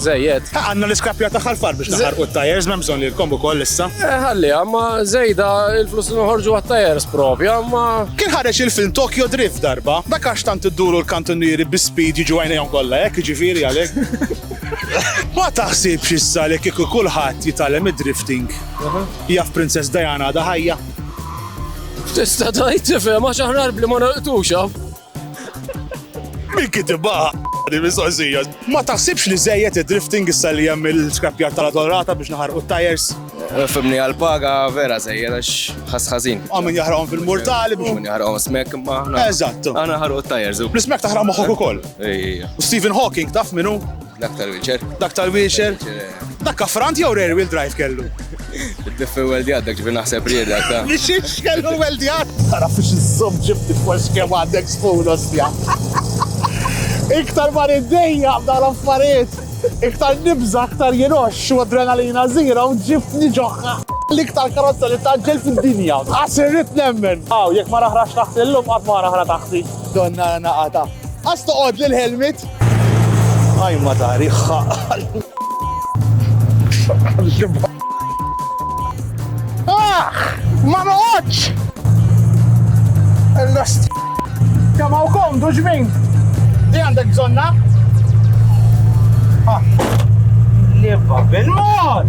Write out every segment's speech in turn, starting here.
Żejjed. Ha, għandna l-iskrappjar tagħha l-far biex naħarqu t-tajers, m'hemm bżonn li lkomm ukoll issa. Eh, ħalliha, ma żejda il-flus li noħorġu għat-tajers propja, ma. Kien ħareġ il-film Tokyo Drift darba, dak għax tant idduru l-kantunnieri bi speed jiġu għajnejhom kollha hekk, jiġifieri għalhekk. Ma taħsibx issa li kieku kulħadd jitgħallem id-drifting. Jaf Princess Diana għadha ħajja. Tista' tgħid tifhem għax aħna bli ma nolqtux hawn. Min kitibha di mistoqsija? Ma taħsibx li żejjed id-drifting issa li hemm il-skrapjar tal-adolrata biex naħarqu t-tajers? Fimni għal-paga vera żejjed għax ħass ħażin. Għaw min jaħraqhom fil-mortali biex. Min jaħraqhom smek imma aħna. Eżatt. Aħna ħarqu t-tajers. L-ismek taħraq moħħok ukoll. Ejja. U Stephen Hawking taf minnu? Dak tal-wheelchair. Dak tal-wheelchair? Dak kafrant jew rear wheel drive kellu? Id-diffi weldjat dak ġifi naħseb rieda ta. Li xiex kellu weldjat? Tara fiex iżżomm ġibti f'wax kemm għandek spoon osja. Iktar ma niddejja b'dawn l-affarijiet. Iktar nibża, iktar jiroxx u adrenalina zero ġibtni ġoħħa. L-iktar karozza li taġġel fid-dinja. Qatt irrid nemmen. Aw, jekk ma raħrax taħti llum qatt ma raħra taħti. Donna naqatha. Qass toqgħodli l-helmet. Għaj ma tari xaqal. Ah! Ma noqgħodx! Il-lost. Kemm hawn komdu ġmin. Li għandek bżonna? Ah. Li babel mod!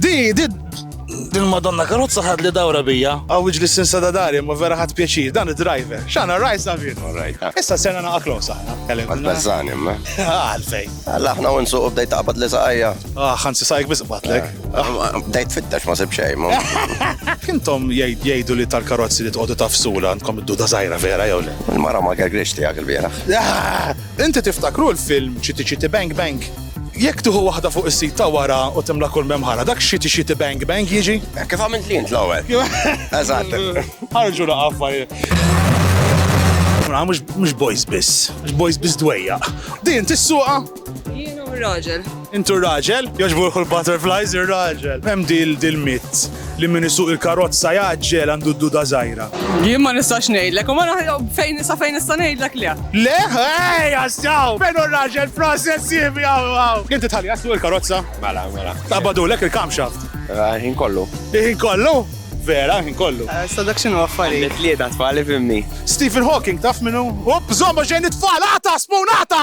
Di, di, din madonna karozza ħad li dawra bija. Għaw iġli sinsa da dari, ma vera ħad pjaċir, dan id-driver. Xana rajt David? Rajt. Issa sena naqaklu saħna. Għal-bazzani, ma? Għalfej. Laħna u nsuq u bdejt taqbad li saqajja. Ah, ħansi saqajk biss qbatlek. Ah, bdejt fittex ma sib xejn. Kintom jgħidu li tal-karozzi li tqogħdu tafsula għandkom id-duda żgħira vera jew le? Il-mara ma gergrix tiegħek il-bieraħ. Ah, inti tiftakru l-film Chitty Chitty Bang Bang? Jekk tuħu waħda fuq is-sit ta' wara u timla kull memħara, dak xiti xiti bang bang jiġi? Eh, kif għamilt li jint l-ewwel? Eżatt. Ħarġu laqaf Mux boys biss, mux boys biss dwejja. Din tissuqa? Jien u raġel. Intu raġel? Joġburħu l-butterflies ir-raġel. Hemm dil dil-mit li min isuq il-karozza jaġġel għandu d-duda żgħira. Jien ma nistax ngħidlek, u ma fejn sa fejn nista' ngħidlek le. Le, ej, jassaw! Fejn u raġel process jibbi għaw għaw. Inti tħalli jassu il-karozza? Mela, mela. Tabadulek il-kamxaft. Ħin kollu. Ħin kollu? Vera, ħin kollu. Sa dak x'inhu affarijiet. Għandi tlieta tfal ifhimni. Stephen Hawking taf min hu? Opp, żomm għax ġejjin it-tfal, agħta, Spoon, agħta!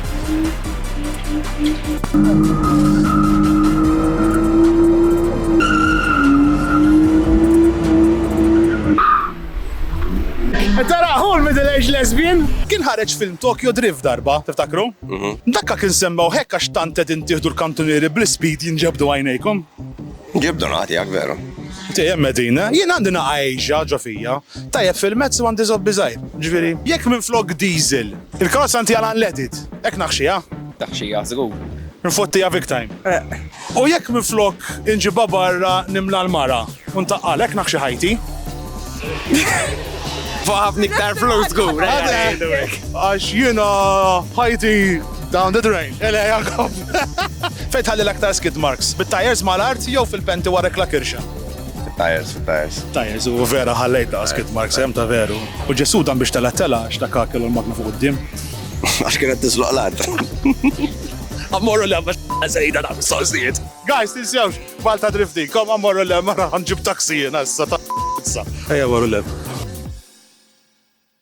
Tara, hu l-middle age lesbian. Kien ħareġ film Tokyo Drift darba, tiftakru? Dakka kien semmew hekk għax tant qed intieħdu l-kantunieri bl-ispid jinġebdu għajnejkom. Ġib donat jak veru. Dejjem qegħdin, eh? Jien għandi naqa' Asia ġo fija. Tajjeb fil-mezz u għandi żobbi żgħir. Ġifieri, jekk minflok diesel, il-karozza ntiegħela unleaded, hekk naħxiha? Taħxiha żgur. Nfottiha big time. Eqq. U jekk minflok inġibha barra nimla l-mara u ntaqqal, hekk naħxi ħajti? Fuq ħafna iktar flus żgur. Għax jiena ħajti Down the drain. Ele Jakob. Fejn tħalli l-aktar skid marks? Bit-tires mal-art jew fil-penti warek la kirxa? Tires, tires. Tires, u vera ħallejt ta' skid marks, hemm ta' veru. U ġesu dan biex tela tela, xta kakel u l-magna fuq qudiem. Għax kienet tiżloq l-art. Ammorru l-lemma zejda da' sożijiet. Guys, tinsewx, balta drifti, kom ammorru l-lemma raħan ġib taksijin, issa ta' issa. Ejja, ammorru l-lemma.